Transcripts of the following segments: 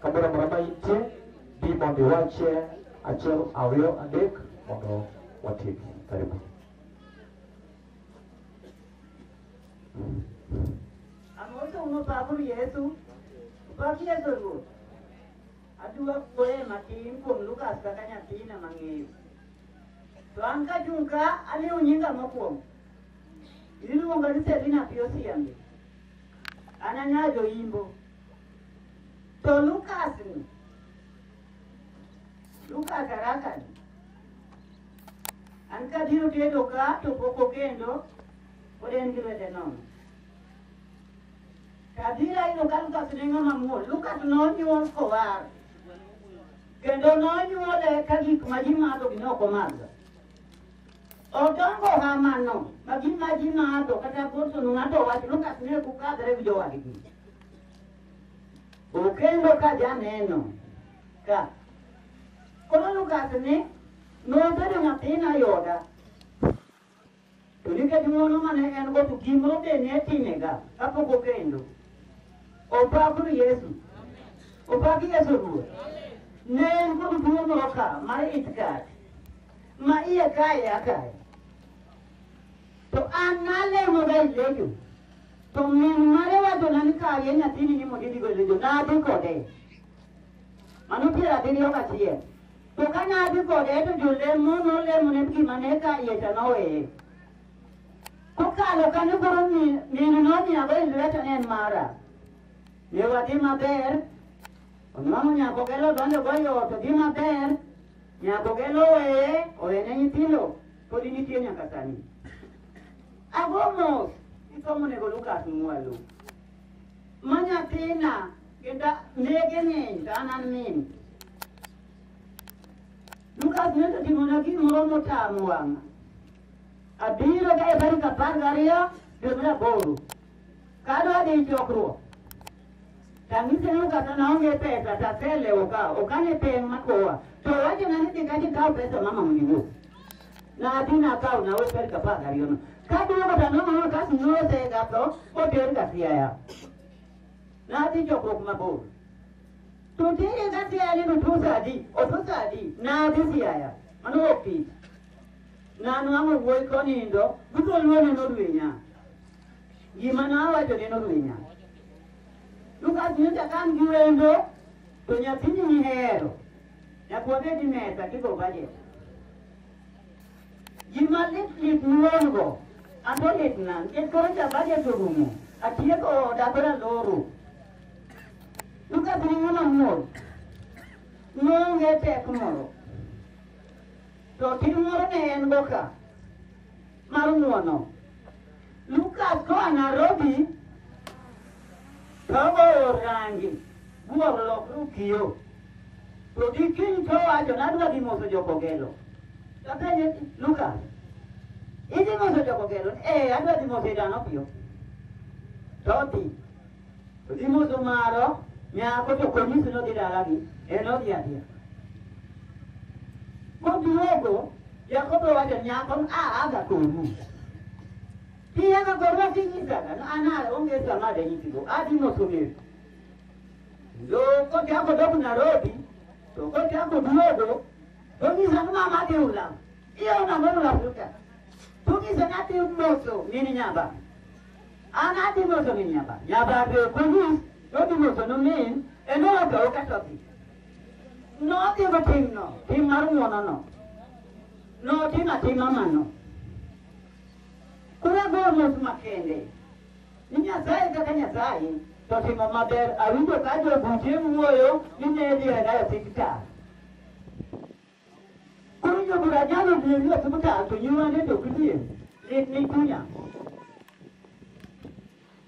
Kamoro amora ma intie, bi mondo iwachie achiel, ariyo, adek mondo watiek. Karibu. Amoso uno pakuru Yesu. Pak Yesu Ruoth. Adwa kuoye matin kuom Lukas kaka nyathina mang'eyo. To an ka chung' ka aliwo nyinga mokwongo. Iluonga ni Selina Piosiambe. An anya joimbo. To Lukas ni, Lukas araka ni, an kabiro tedo ka to pok okendo, pod en gi lwete nono. Kabiro ayudo ka Lukas ne ng'ama muol. Lukas nonyuol kowar. Kendo nonyuole ka gik ma ji madho gi ne ok omadho. Odongo hamano, ma gin ma ji ng'ado kata porson ng'ado wach Lukas ne ok kadre gi jowadgi. Okendo ka janeno ka. Koro Lukas ne nobedo nyathina yoda To nikech ng'wono ma ne en-go to gimoro be ne timega kapok okendo. Opakru Yesu. Opak Yesu Ruoth. Ne en kod tuo moro ka mar itkat ma iye kae akae. To an nalemoga ilejo. To min mare wachona ni kawie nyathini ni mondo idhigo ilejo. Nadhi kode. Mano piero abiriyo gachiel. To ka ne adhi kode to jolemo nolemone gima ne ka iye to noweye. Kokalo kanyo koro mi- minu nomiyago e lweta ne en mara. Ne wadhi maber, onwang'o nyako gelo donjo goyo ot odhi maber, nyako gelo oweye, owene nyithindo, podi nitie nyaka sani. Ago mos, isomo nego Lukas Mwalo. Ma nyathina Kenda lege ng'eny to an an min. Lukas ne otimona gimoro motamo wang'a. Abiro ka e tarik apar gariyo dwe mar aboro. Ka adwa dhi chokruok, tang'ise ni Lukas an aonge pesa to aselewo ka ok ane peng' makowa. To wachona ni dhi kacha ikaw pesa mama mondo iwuo. Nadhi nakawo nawe tarik apar gariyono. Kaduogo to aneno ni Lukas nosegatho oter ka siaya. Nadhi chokruok mabor. To tinde ka siaya ni otuo saa adi, otuo saa adi, nadhi siaya. Mano ok tich. Nanwang'o wuoyi konindo, duto luone nodwinya. Gima nawacho ne nodwinya. Lukas nyocha ka an gi wendo, to nyathini nihero. Nyaka wabed gi mesa kigo budget. Gima lit lit miwuongo, an be litna nikech koro cha budget orumo, atieko oda koro aloro. Duka piny ng'ama muol, noonge tek moro. To tim moro ne en go ka, mar ng'uono. Lucas koa Nairobi togoyo rangi buoro lokru kiyo to gi kiny towacho nadwa dhi moso jokogelo tapenje Lucas idhi moso jokogelo ee adwa dhi moso idano piyo todhi To gimoso maro nyako to konyisi nodhi dalagi en odhi adhiya. Koduogo Jakobo wacho nyako a aga konu. Kiya ka korwa kinyisaga no anal onge sama de nyisigo adi moso ng'eyo. Lo kochako dok Nairobi to kochako duogo to nyisa ni mama adhi ulam. Iyo na mono la futa. To nyisa ni adhi moso mini nyamba. An adhi moso gi nyaba. Nyaba be polis nodhi moso nomin en owacho oketo dhi. Nodhi go timno, tim mar ng'wonono. Notim atima mano. Koro agoyo mos makende. Ni Nyasaye kaka Nyasaye to timo maber awinjo ka jobuche wuoyo ni ne dhi e dayo TikTok. Koro jo bura nyalo miyo ni osim ka to nyiwa ne to kidie. Ni ni kunya.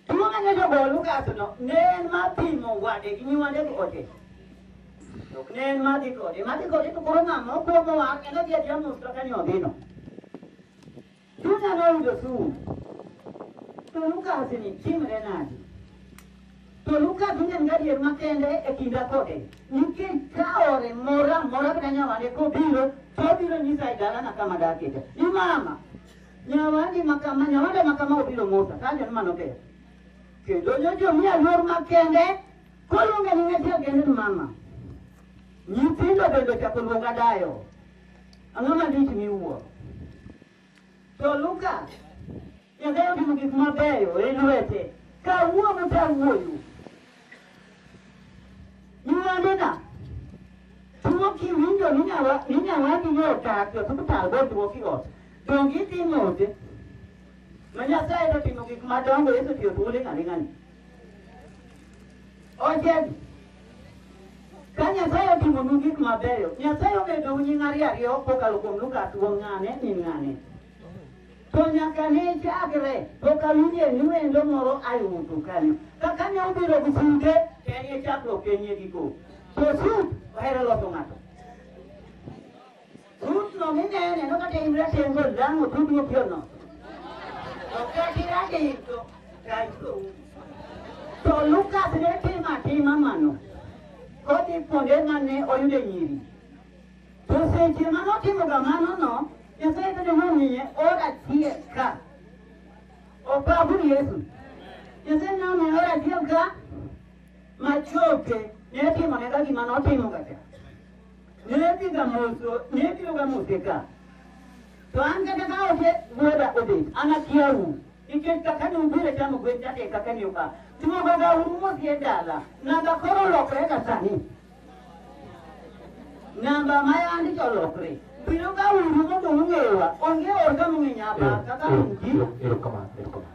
Tuo ng'e jo bol Lukas no ne en mar pimo wade gi nyiwa ne ote. Ok ne en mar dhi kode. Mar dhi kode to koro ng'ama okuongo wang' en odhi adhiya mos kaka ni odhino. Duta noyudo sum. To Lukas ni timre nadi? To Lukas ne en gadier makende e kinda kode. Nikech ka ore mora mora kata nyawande kobiro, to obiro nyisa e dalana kama dakete. Ni mama, nyawandi makama, nyawande makama obiro mota. Kanyo mano ber. Kendo nyojo miya luor makende, koluonge ni ng'ati agende ni mama. Nyithindo bende ochako luonga dayo. Ang'o malich miwuoro? To Luka, Nyasaye otimo gik mabeyo e lwete. Kawuono to awuoyo. Nywandena, tuo kiwinjo ni nyawa- ni nyawadi ni odak e osiptal botuo kiot, donge idhi note? Ma Nyasaye to otimo gik madongo, Yesu otiyo thuolo ing'ani ng'ani. Ojebi. Ka Nyasaye otimonu gik mabeyo, Nyasaye omedou nying' ariyo ariyo kokalo kuom Luka tuo ng'ane ni ng'ane. To nyaka ne chakre pok awinje ni wendo moro ayutu kanyo. Kaka ne obiro gi sude, en ye chakruok en ye giko. To sud ohero loso ng'ato. Tutno minene no kata imra tengo lango tudu pio no. Okati rade ito kaito. To Lukas ne tima tima mano. Kodi ponde mane oyude nyiri. To seche mano timo gamano no, Nyasaye kata nomiye ora tie ka. Opabu Yesu. Nyasaye nomiye ora tie ka machoke ne timo ne kagima notimo gacha. Netiga moso, netiga ga moseka. To an kata ka oke wuoda obet, an akiyawu. Nikech kaka ne ubiro chamo gwen chake kaka ne oka. Tumoga ga uru mosie dala. Namba koro lokre ka sani. Namba ma yandi to lokre. Biro ga uru mondo ung'ewa. Onge orga mung'e nyaba kaka ungi. Erokamano, erokamano.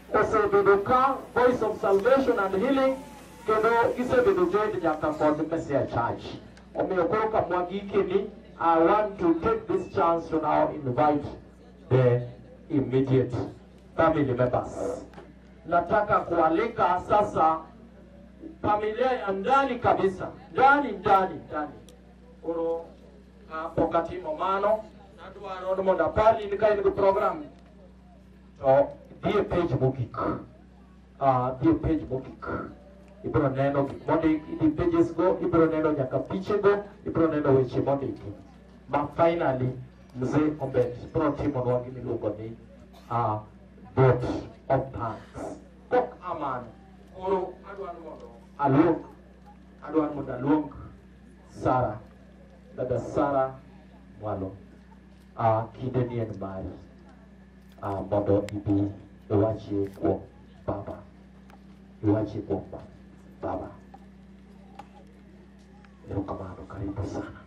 osebedo ka voice of salvation and healing kendo gisebedo joined nyaka kod mesia church omiyo koro kamwa gikeni i want to take this chance to now invite the immediate family members nataka kualika sasa familia ya ndani kabisa ndani ndani ndani koro kapok atimo mano nadwaro ni mondo apari ni ka in gi program To dhi e page mogik. Ah, dhi e page mogik. Ibiro neno gik mondik, idhi pages go, ibiro neno nyaka piche go, ibiro neno weche mondiki. Ma finally mzee Ombet biro timonwa gima iluongo ni ah, vote of thanks. Kok amano, koro adwa ni mondo aluong, adwa ni mondo aluong Sara, dada Sara Mwalo. Ah, kinde ni en mari ah, mondo ibi iwachie kuom baba iwachie kuom ba- baba erokamano karibu sana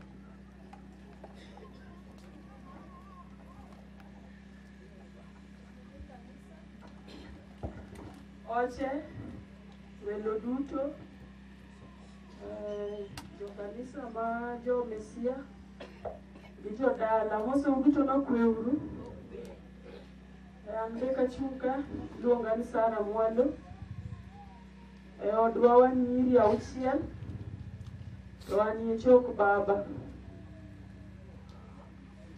Oche, welo duto, Eh, jokanisa ma jomesia gi jodala moseu duto nokweuru an be kachuka iluonga ni sara mwando e odwa wan nyiri auchiel to an ye chok baba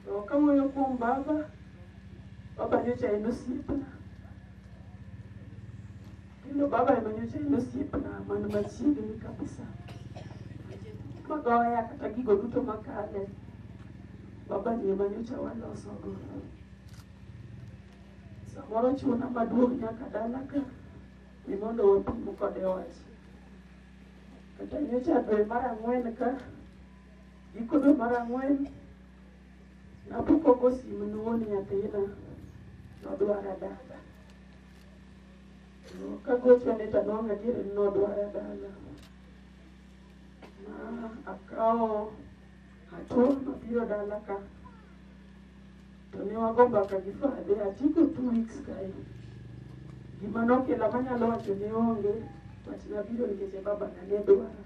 To kawuoyo kuom baba, baba nyocha en osiepna. Kendo baba ema nyocha en osiepna man machiegni kabisa. Magoya kata gigo duto makale, baba ni ema nyocha walosogo. Samoro chuna maduong' nyaka dala ka ni mondo wapim kode wach. Kata nyocha dwe mar ang'wen ka Giko dwe mar ang'wen, napok ogo simu ne wuon nyathina, nodwara dala. Kagochone to anwang'o adier ni nodwara dala. Ma akawo hatua mabiro dala ka, to ne wago mbaka gi fadhe atieko two weeks kae. Gima nokela manyalo wacho ne onge, but nabiro nikech e babana ne dwara.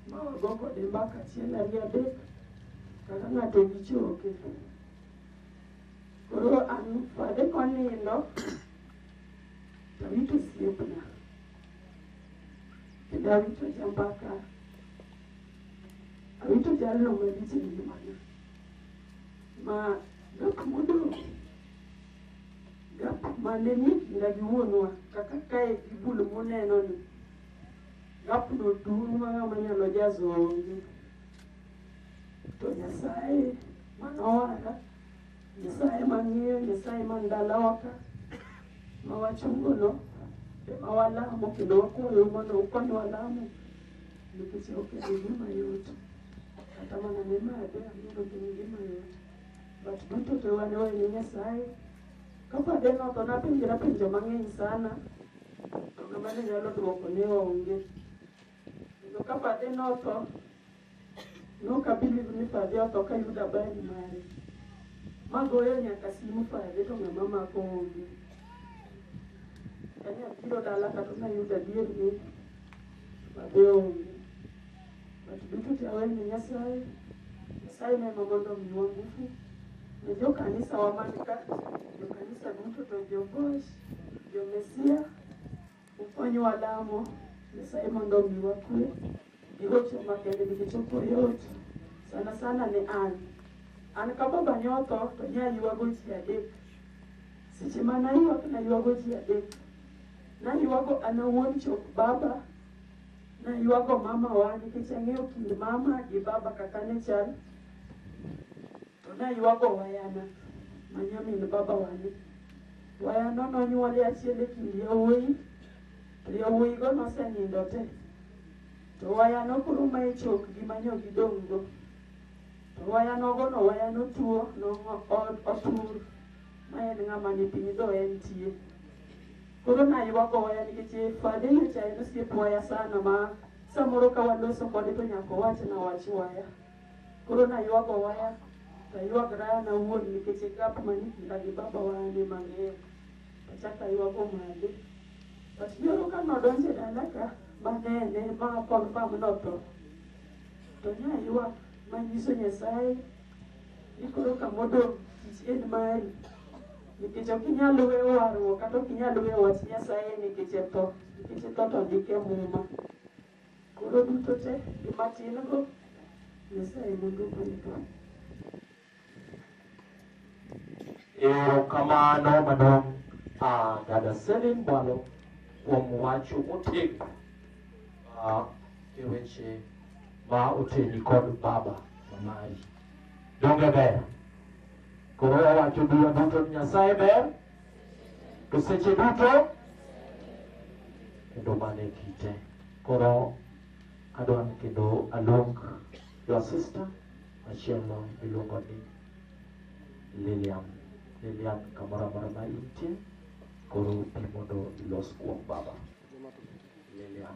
ma wago kode mbaka achiel ariyo adek kaka ng'ato gi choke. Koro an fade konindo to awito osiepna kendo awito jambaka awito jalno malich e ngimana ma gak modong' gap mane ni kinda gi wuonwa kaka kae gi bul muneno ni Ng'atno dun ma ng'ama nyalo jazo onge. To Nyasaye manowara, Nyasaye mang'eyo, Nyasaye man dalawa ka, ma wachungono, ema walamo kendo wakwayo mondo ukonywa lamo nikech ok en gima yot. Kata mana ne made ang'eyo ok en gima yot. But duto te wan wene Nyasaye. Kapod en otho napenjra penjo mang'eny sana To ng'ama ne nyalo dwoko ne onge. Kendo ka Fadhi notho, nok abiliv ni Fadhi otho ka yudo habari mare. Ma goyo nyaka simu Fadhi to ng'ama mako onge. Kane abiro dala kata nayudo adier ni Fadhi onge. Ng'ato duto te awer ne Nyasaye. Nyasaye ne ema mondo omiwa ngufu. Ne jo kanisa wa man ka, jo kanisa duto to jo Gosh, jo Mesia, ukonywa lamo. Nyasaye mondo omiwa kwe. Ihocho makende nikech ok oyot. Sana sana ne an. An ka baba ne otho to ne ayuago ji adek. Seche ma nayuak nayuago ji adek. Nayuago an awuon chop baba, Naywago mamawa nikech ang'eyo kind mama gi baba kaka ne chal. To naywago wayana ma nyamin baba wani. Wayano nonyuole achiel e kind yawuoyi to yawuoyigo nosenindo te. To wayano koro ma e chok gi manyo gidong' go. To wayanogo no wayano tuo no otur ma en ng'ama ni piny do entie. Koro naye wagoya nikech fade nyocha en osiep waya sana ma samoro ka waloso kode to nyaka owach na wach waya. Koro naywago waya to aywagra an awuon nikech e gap mani kinda gi baba wane mang'eyo. Achako aywago mage. But nyoro ka nodonjo e dala ka manene ma confirm notho. To nyaywak manyiso Nyasaye ni koro kamodong' tich en mari nikech ok inyal weyo warruok kata ok inyal weyo wach Nyasaye nikech e tho nikech e tho to ndik e muma koro duto te gima tin go Nyasaye mondo ogwedho Erokamano madong' ah, dada Selin Bwalo kuom wacho motegno ah, e weche ma oteni kod baba mamari donge ber koro wawacho duwa duto ni nyasaye ber to seche duto kendo mane kite koro adwa ni kendo aluong your sister machielo miluongo ni lilian lilian kamoro amora ma intie koro pi mondo ilos kuom baba lilian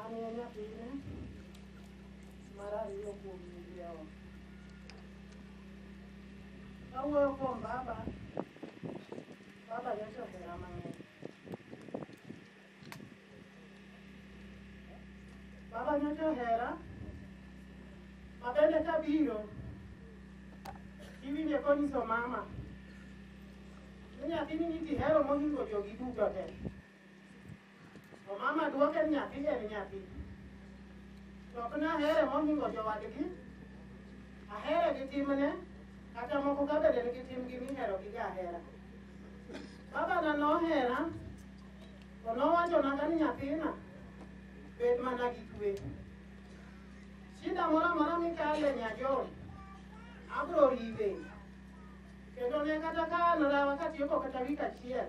An e nyathine mar ariyo kuom nyiri awa. Kawuoyo kuom baba, baba nyocha ohera mang'eny. Baba nyocha ohera, ma bende kabiro, iwinje konyiso mama, ni nyathini ni kihero mohingo jogi duto te. To mama dwoke ni nyathi en nyathi. To ok nahere mohingo jowadgi. Ahere gi timne, kata moko ka bende nigi timgi mihero gi jahera. Babana nohera, to nowachona ka ni nyathina, bed mana gi kwe. Shida moro amora mikale nyajol, abro riwe. Kendo ne kata ka an rawa katieko kata wik achiel,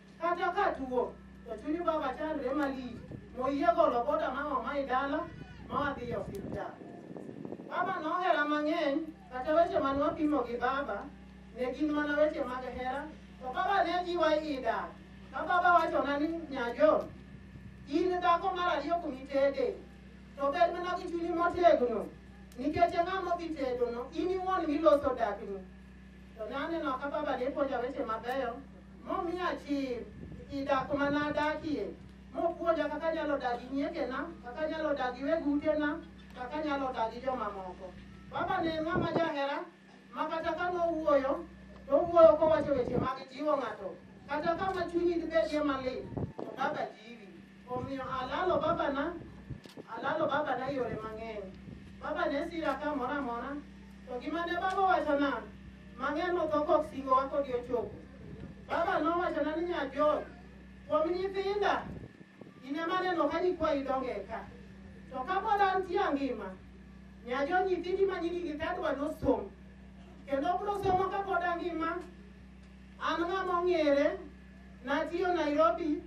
Kata ka tuo, to chunyu baba chandre malich, moyie golo boda ma oma i dala ma wadhi e osiptal. Baba nohera mang'eny, kata weche man wapimo gi baba, ne gin mana weche mag hera, to baba ne jiwa i dak. Ka baba wachona ni nyajo, in dhako mar ariyo kuom itede, to bed mana gi chunyi motegno, nikech ng'a modhi tedono, in iwuon miloso dakni. To ne aneno ka baba ne puonja weche mabeyo Momiya chir i dak ma nadakie, mopuonja kaka anyalo dak gi nyiekena, kaka anyalo dak gi weg utena, kaka anyalo dak gi jomamoko. Baba ne en ng'ama jahera ma kata ka nowuoyo, to owuoyo kowacho weche mag jiwo ng'ato. Kata kama chunyi dibedie malit, to baba jiwi. Omiyo alalo babana, alalo babana yore mang'eny. Baba ne sira kamoro amora, to gima ne baba owachona, mang'eny motho kok singowa kodi ochopo. Baba nowachona ni nyajot, kuom nyithinda, in ema aneno ka nyikwayi donge ka. To kapod antie angima, nyajo nyithindi ma nyingi gi kadwa nosom. Kendo obro somo kapod angima, an ng'ama ong'ere, natiyo Nairobi,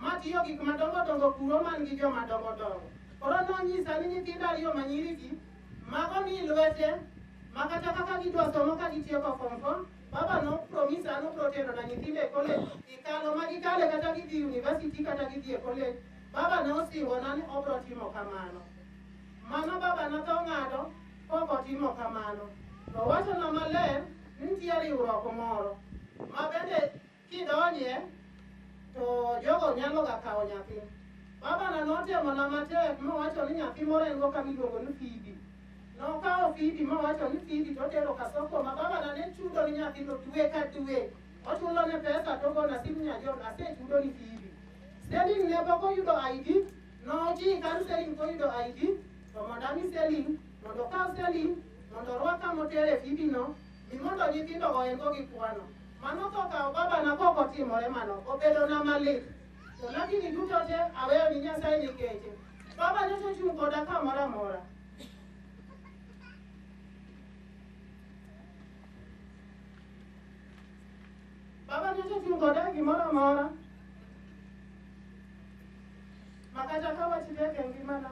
matiyo gik madongo dongo kuro man gi joma dongo dongo. Koro nonyisa ni nyithindo ariyo ma nyirigi mago ni lwete ma kata kaka gidwa somo ka gitieko form four, baba no promisa no proteno na nyithindo e college ikalo ma gikale kata gidhi university kata gidhi e college. Baba ne osingona ni obro timo kamano. Mano baba na to ng'ado kok otimo kamano. To owachona maler ni nitie riwruok moro ma bende Kidonje to jogo nyaloga kawo nyathi. Babana notemona matek mowacho ni nyathi moro en go kama iluongo ni Phoebe. Nokawo Phoebe mowacho ni Phoebe to otero Kasoko ma babana ne chudo ni nyathino dwe ka dwe. Ochulo ne pesa to ogona simu nyajon asechudo ni Phoebe. Selling ne pok oyudo ID, nojiyi kar Selling koyudo ID to mondo ami Selling mondo okaw Selling mondo orwak kama otere Phoebe no Gimondo nyithindo ohergo gi kwano. Mano to kawo babana kok otimore mano. Obedona malit. To lakini duto te aweyo ni Nyasaye nikeche. Baba nyocha ochung' koda kamoro amora. Baba nyocha ochung' koda gimoro amora. Makata ka wach tek e ngimana.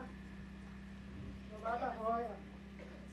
To baba hoya.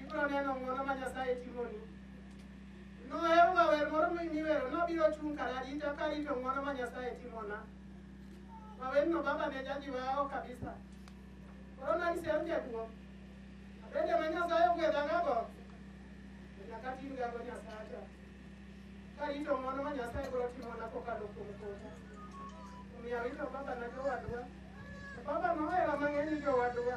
Ibiro neno ng'wono ma Nyasaye timoni. Noheroga wer moro miwero nabiro chung' kar arita karito ng'wono ma Nyasaye timona. Ma werno baba ne jajiwa aho kabisa. Koro nagisiero jaduo. Abende ma Nyasaye ogwedhagago. Nyaka tin gago Nyasacha. Karito ng'wono ma Nyasaye biro timona kokalo kuom kota. Omiyo arito baba na jowadwa. To baba nohera mang'eny ni jowadwa.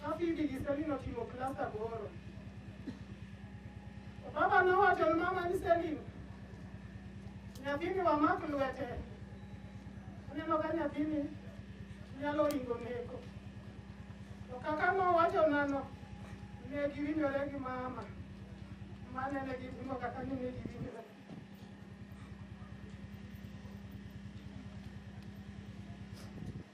Kafidi gi Selina otimo klas aboro. Baba nowacho ne mama ni Selina, nyathini wamak lwete. Aneno ka nyathini nyalo ringo neko. To kaka nowacho nano, ne giwinjore gi mama. Mane ne gitimo kaka ni ne giwinjore.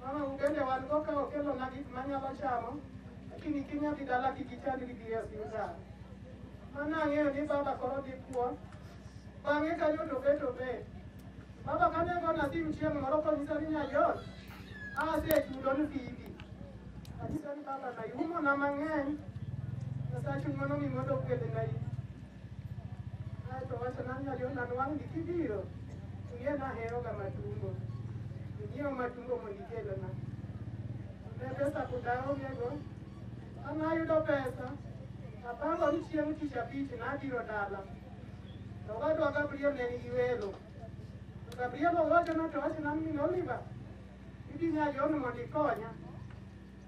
Mama ugende wan go ka okelo na gik manyalo chamo lakini kinya dhi dala kik ichand gi dhi e osiptal. Mano ang'eyo ni baba koro dhi kuo. Bang'e kanyo to bet obet. Baba kane gona simu chieng' moro konyisa ni nyayot asechudo ni bibi. Anyisa ni baba na iumona mang'eny Nyasaye chuny mano mi mondo ogwedhna in. Ato wacho na ngalio na nwang di kibiro. Tuye na hero ga matumbo. Ngiyo matumbo mo nikelo na. Ne pesa kudaro ngego. Ana yudo pesa. Apango ni chieng tich abich na biro dala. To wadwa Gabriel ne nigi welo. To Gabriel owacho na to wacho na min Oliver. Idhi nya yono mondo ikonya.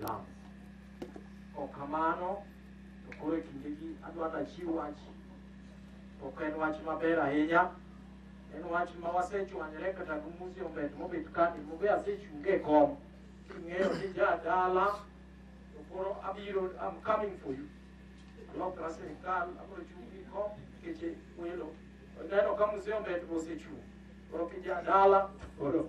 lungs. Ok kamano, to koro e kindegi adwaro nachiw wach. Ok en wach maber ahinya, en wach ma wasechwanyre kata gi museum bet mobet kani mobe asechunge e kom king'eyo ni jadala to koro abiro I'm coming for you alokra sirikal abiro chung' gi kom keche welo oneno ka museum bet mosechung' koro kijadala koro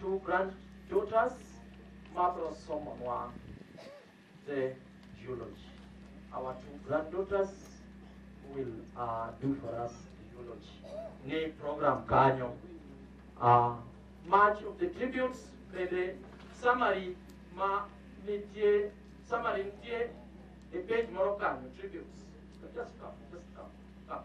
Two grand daughters mabro somonwa the eulogy. Our two granddaughters will uh, do for us the eulogy. Ni program kanyo. Uh, much of the tributes bende summary ma nitie summary nitie e page moro kanyo tributes. Just come, just come, come.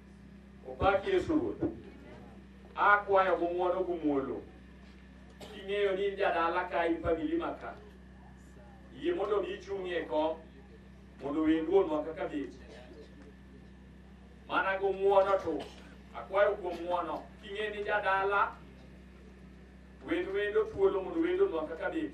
Opak Yesu Ruoth. Akwayo gi ng'wono gi muolo. King'eyo ni in jadala ka in famili ma ka. Yie mondo mi ichung'ie kom mondo wendwonwa kaka bech. Mana gi ng'wono to akwayo kuom ng'wono king'e ni jadala wend wendo thuolo mondo wendonwa kaka bech.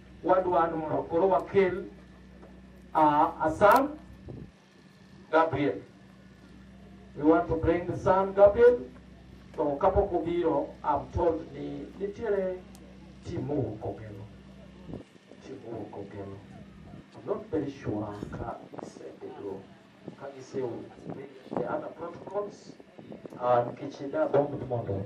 Wadwaro mondo koro wakel uh, a son, Gabriel. We want to bring the son Gabriel. To kapok obiro, I'm told ni nitiere team mowuok Ogelo. Team mowuok Ogelo. I'm not very sure ka gisebedo ka gisebedo the other protocols uh, nikech ne agombo mondo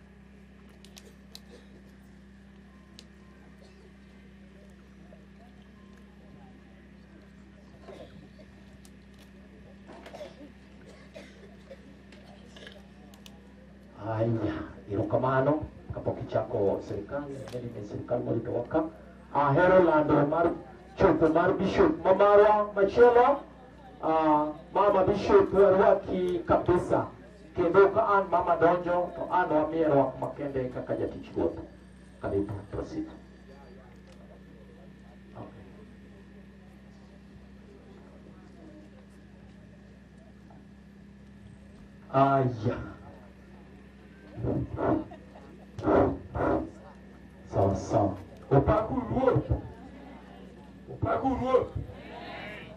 Haya, erokamano kapok ichako sirikal nene ne sirikal morito waka ahero lando mar chopo mar bishop ma marwa machielo ah, mama bishop warwaki kabisa Kendo ka an mama donjo to an wamiye rwak makende kaka jatich ruoth. Karibu, proceed. Aya. Sawa sawa. Upaku ruoth. Upaku ruoth.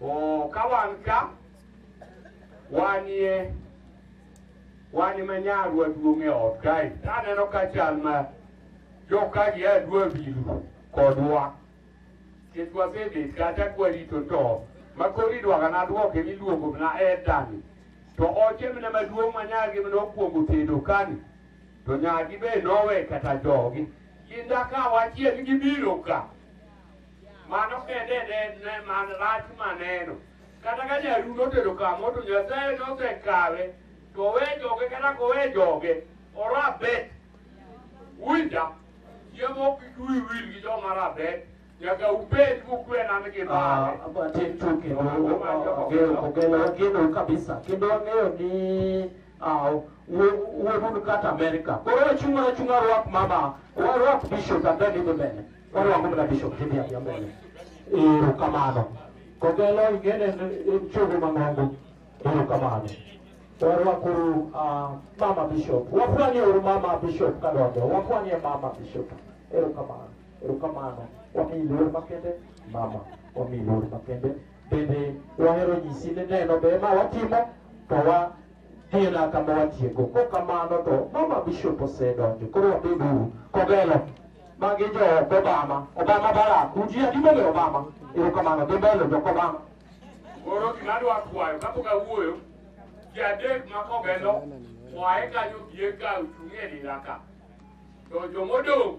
Oh, ka wan ka wanie wan ma nyarwa duong' e ot kae to aneno ka chal ma jokagi a dwa biro kodwa nikech wasebet kata kwarito to ma koro idwaga nadwoke miluongo mana etani to oche mna maduong' ma nyargi mna okwongo tedo kani to nyargi be nowe kata jogi kinda ka wachiel gibiro ka Mano kende ne ne man rach maneno. Kata ka jaru notedo kamo to Nyasaye nosekawe to owe joge kata kowe joge orabet. Winja, chiemo ok iduyi wil gi joma rabet. Nyaka ubed mukwe na ni gibale. Ah, but in true kendo, uh, ogeno, ogeno, ogeno kabisa. Kendo ang'eyo ni uh, wuodu kata Amerika. Koro wachung' mana chung' warwak mama, warwak bishop and then idhi mbele. Warwako mana bishop tidhi adhiya mbele. Ero kamano. Kogelo ingene en chogo mang'ongo. Ero kamano. Warwakuru uh, mama bishop. Wafwanye uru mama bishop kadonjo. Wafwanye mama bishop. Ero kamano. Ero kamano. Wami lor makende mama. Wami lor makende bende wahero nyisi ni neno be ma watimo to wa gena kama watiego ko kamano to mama bishop osedonjo koro wabeduru kogelo magi jo obama obama barak uji adimbe ni obama erokamano dhi mbele jok obama Koro gima adwa kwayo kapok awuoyo, ji adek ma kogelo oae kanyo bie ka ochung' e dira ka. To jomodong'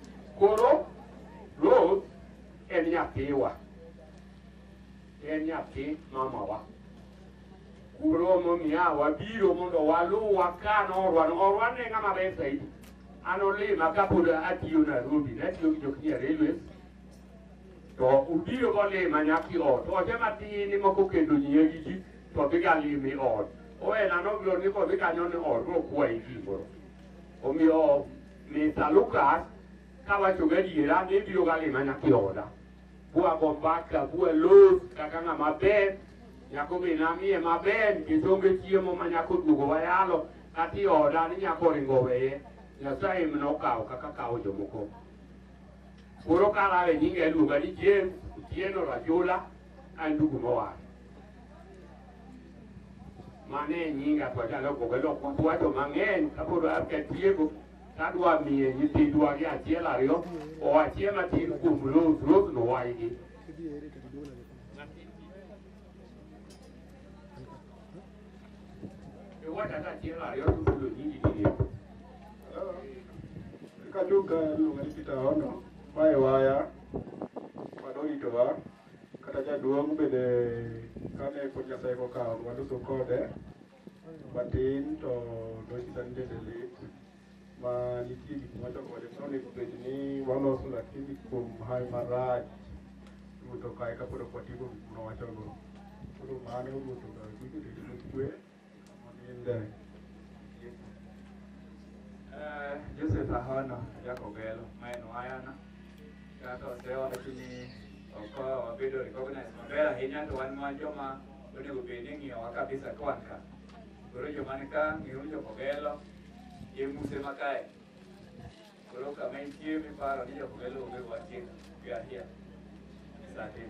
Koro Ruth en nyathiwa, en nyathi mamawa. Koro momiya wabiro mondo waluwa ka norwa norwa ne ng'ama ber saidi. An olima kapod atiyo Nairobi, natiyo gi Jokini Railways to ubiro golima nyaki ot ote matin moko kendo nyie gi ji to dhi ga limi ot owena nobiro ni kodhi kanyo ni ot rokwayi gimoro omiyo Mr. Lucas kawacho gadiera ni ibiro ga lima nyathi oda bwago mbaka bwalos kaka ng'ama ber nyako be namie maber nikech onge chiemo ma nyako duogo wayalo kati oda ni nyako ringo weye nyasaye mna okawo kaka kawo jomoko koro kalawe nyinga iluonga ni james otieno rajula an dugu mowar Mane nyinga to anyalo gogo lok wacho mang'eny kapod atieko tadwa miye nyithindwa gi achiel ariyo o achiel atin kuom los los nowaygi iwacho ata achiel ariyo tutulo nyingi ginie kachuka luonga ni Peter Ono mae waya madoritowa Kata jaduong' bende kane pod Nyasaye kokawo waduto kode matin to nonyisa ni dende lit ma nitie gik mwacho kode to onego bed ni waloso lakini kuom hayo marach ruto kae kapod ok watieko gik mwawachogo koro mano ruto kik obedo gi kwe Eh, Joseph Ahono Jakobelo ma en wayana kaka osewacho ni ok wabedo recognize maber ahinya to wan wan joma onego bed ni ng'iyowa kabisa ka wan ka koro joma ni ka ng'iuru Jokobelo e muse ma kae Koro kama entie miparo ni jok melo onge wachie gahia. Sante.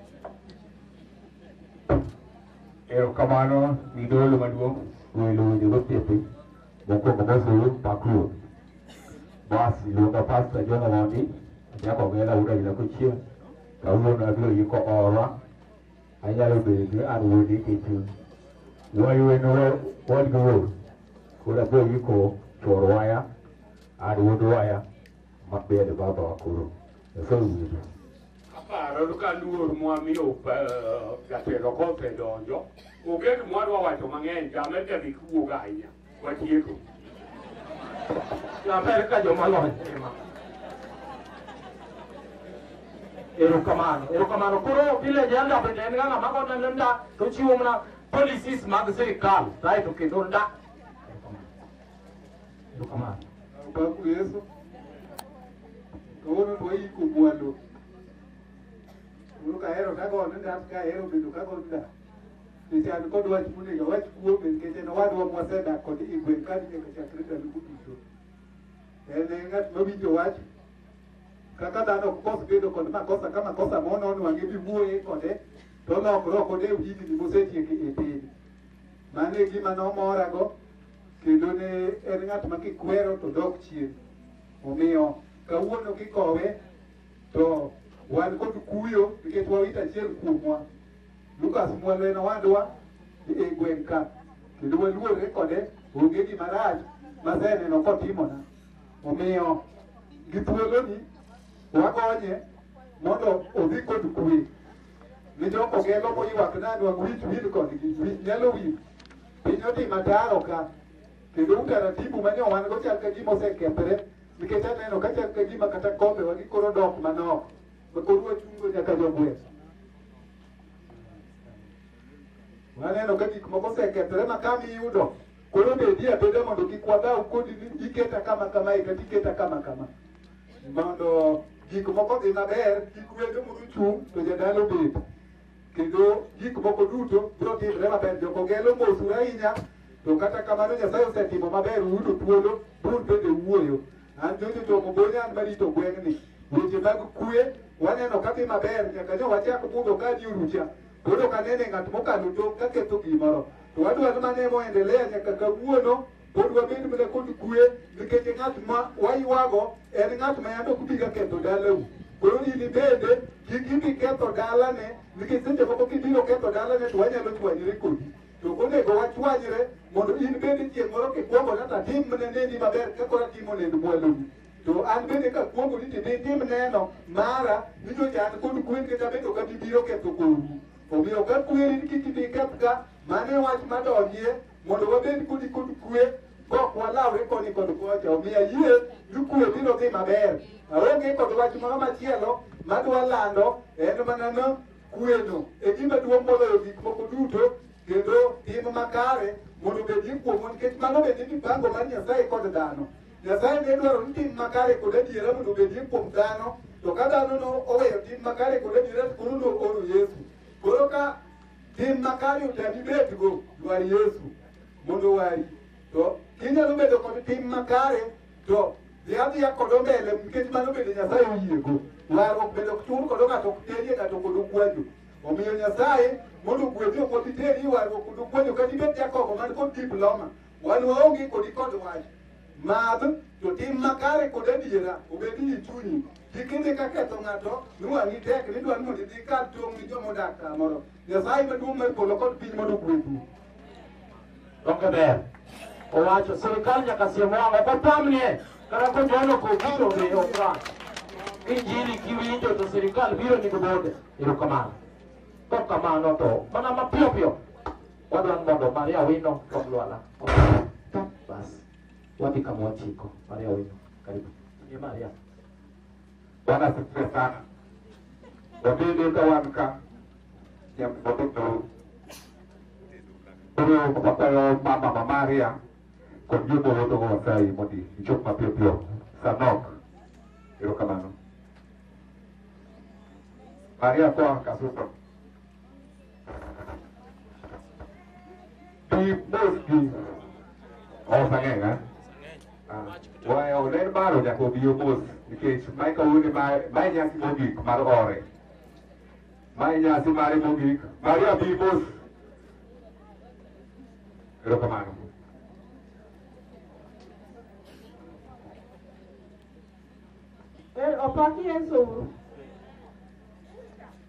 Erokamano ni dolo maduong' welo weche gosiepe mokwongo mosuru pakruo bas iluonga pasta jono mondi nyako gela uda ila kochien kawuono abiro yiko orwa anyalo bedo ni an wuodi kechu wayueno wadgi wuor koro abiro yiko chor waya An wuod waya ma bende baba wakuru. Nyasaye owinjo. Aparo ka luor mwamiyo jatelo kope donjo. Onge gima wadwa wacho mang'eny, jame te dhi kuwuok ahinya. Watieko. Naber ka joma lony ema. Erokamano, erokamano. Koro vile janda bende en ng'ama mago neno nda to chiwo mana policies mag sirikal. Kae to kendo nda Erokamano. Obaku Yesu. Kawuono to waiko gwalo. Koro kahero kagone ngat kahero bedo kagone ngat. Nikech an kod wach monego awach kuome nikech en owadwa mwasedak kod i gweng' ka nyaka chakre ndalo duto. En e ng'at mawinjo wach kaka dhano ok kos bedo kod makosa ka makosa monon wang'e biwuoye kode to olokre ok odew higni mosetieko e piny. Mano e gima nomorago kendo ne en ng'at ma kikwero to dok chien. Omiyo kawuono kikowe to wan kod kuyo nikech wawito achiel kuomwa. Lukas Mwalo en owadwa e gweng' ka kendo waluorre kode onge gima rach maseneno kotimona. Omiyo gi thuoloni wagonye mondo odhi kod kuwe. Ni jokogelo moywak nani wang' wich wil kodgi, wich nyalo wil. Piny odhi mataro ka, kendo utaratibu ma nyo wan go chal ka gima osekethre, nikech aneno ka chal ka gima kata kombe wa gikoro dok manok, ma koro wachungo nyaka jogweng'. Waneno ka gik moko osekethre ma kama iyudo, koro bedi abeda mondo kik wadhaw kodi ni iketa kama kama e kata iketa kama kama. Mondo gik moko dhi maber, kik wendo muru chung' to jadala obed. kendo gik moko duto biro timre maber. Jokogelo mosu ahinya, to kata kamano Nyasaye osetimo maber, uyudo thuolo bur bende wuoyo. An Jojo Jomo Bonya an marito gweng'ni. Weche mag kue waneno ka dhi maber nyaka ne wachak budho ka ni orucha. Koro kanene ng'at mokalo tong' ka ketho gimoro. To wadwaro mane moendelea nyaka kawuono Pod wabed mana kod kue nikech ng'at ma waywago en ng'at ma yande ok bi ga ketho dalau. Koro in bende kik ibi ketho dalane nikech seche moko kibiro ketho dalane to wanyalo chwanyre kodi. To ok onego wachwanyre mondo in bende chieng' moro kikwongo kata timne neni maber kaka koro atimo nend mwaloni. To an bende kakwongo ni tinde itim neno mara ni nyocha an kod kwe nikech abende ok abi biro ketho kodi. Omiyo ka kweri ni kik ibi kethga, mano e wach madonjie mondo wabed kodi kod kwe kok walawre koni kod kocha omiyo ayie ni kwe biro dhi maber aonge kod wach moro machielo madwa lando en mana no kweno e gima duong' moloyo gik moko duto kendo tim makare mondo obedie kuomwa nikech mano bende mipango mar nyasaye kod dhano nyasaye ne dwaro ni tim makare kod adiera mondo obedie kuom dhano to ka dhano no oweyo tim makare kod adiera koro no oro yesu koro ka Tim makare otami betgo, dwar Yesu mondo owari. To inyalo bedo kod tim makare to dhi adhiya kod ombele nikech mano bende Nyasaye oyiego. Warruok bende ok chul kodo ng'ato ok terie ng'ato kod okwajo. Omiyo Nyasaye mondo ogwedhi ok obi teri warruok kod okwajo kata ibed jakobo man kod diploma. Wan waonge kodi kod wach. Madh to tim makare kod adiera obed ni chunyi Kik imi ka ketho ng'ato miwang'i tek ni dwani mondo idhi kar tong' ni joma odak kamoro. Nyasaye maduong' mar polo kod piny mondo ogwedhu. Donge ber? Owacho sirkal nyaka siem wang'o kopamnie kata kojono kobiro be ok wang'. Injili kiwinjo to sirkal biro ni gibode. Erokamano. Kok kamano to mana mapiyo piyo wadwani mondo Maria Wino kod Lwala. Bas. Wapi kama wachiko Maria wenu karibu ni Maria Bwana asifiwe sana. Wabebe kawanka ya mtoto Pero kapag mama ma Maria kung yun mo ito ko sa imo di ichok mapipyo sa nok. Pero kamano. Maria ko ang kasuto. Kipmoski. Oh, sang'eng ha? Waya oler baro nyaka obi omos nikech mae kawuono mae mae nyasi mogik mar ore. Mae nyasi mare mogik. Maria bi mos. Erokamano. Er opaki Yesu.